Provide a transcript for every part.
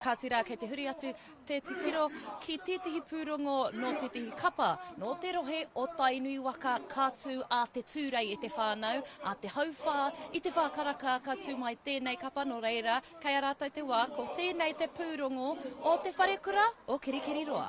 Kāti rā, kei te huri atu te titiro ki tētehi pūrongo nō tētehi kapa, nō te rohe o Tainui waka, ka tū a Te Tūrei e te whānau, a Te Hauwhā i Te Whākaraka ka tū mai tēnei kapa, nō reira, kei a rātou te wā, ko tēnei te pūrongo o te wharekura o Kirikiriroa.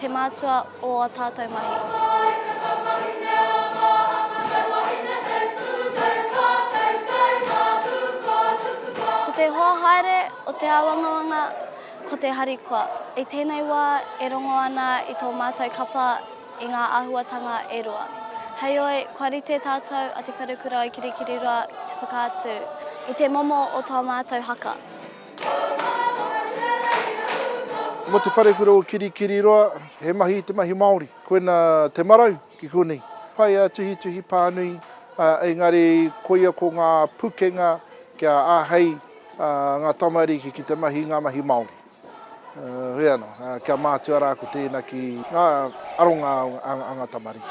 Te mātua o a tātou mahi. Ko te hoa haere o te āwangawanga ko te harikoa. I tēnei wā e rongo ana i tō mātou kapa i ngā āhuatanga e rua. Heoi, kua rite tātou a Te Wharekura o Kirikiriroa ki te whakaatu i te momo o tō mātou haka. Mo te wharekura o Kirikiriroa, he mahi i te mahi Māori. Koina te marau ki konei. Pai a Tuhituhi pānui, engari koia ko ngā pukenga kia āhei ngā tamariki ki te mahi ngā mahi Māori. Hoi anō, kia mātua rā ko tēina ki ngā aronga a ngā tamariki.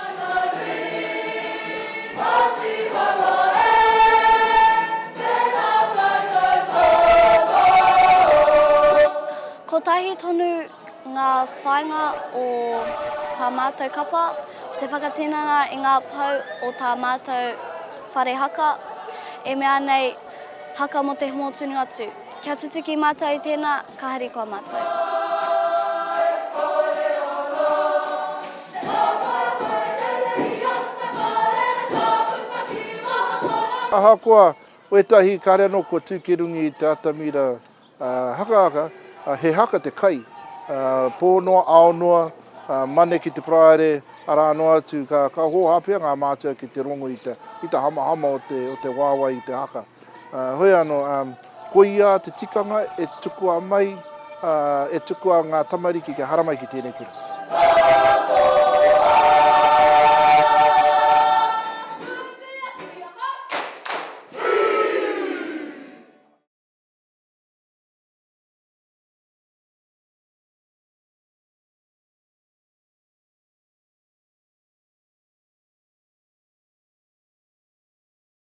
Kotahi tonu ngā whāinga o tā mātou kapa, ko te whakatinana i ngā pou o tā mātou whare haka, e mea nei, Haka mō te Hōtunungatu. Kia tutuki mātou i tēnā, ka harikoa mātou. Ahakoa wētahi kare anō kua tū ki runga i te atamira hakahaka, he haka te kai, pō noa, ao noa, Mane ki te Paraire, arā noa atu, ka hōhā pea ngā mātua ki te rongo i te hamahama o te wāwae i te haka. Hoi ano, ko ia te tikanga e tukua mai, e tukua nga tamariki kia haramai ki tenei kura.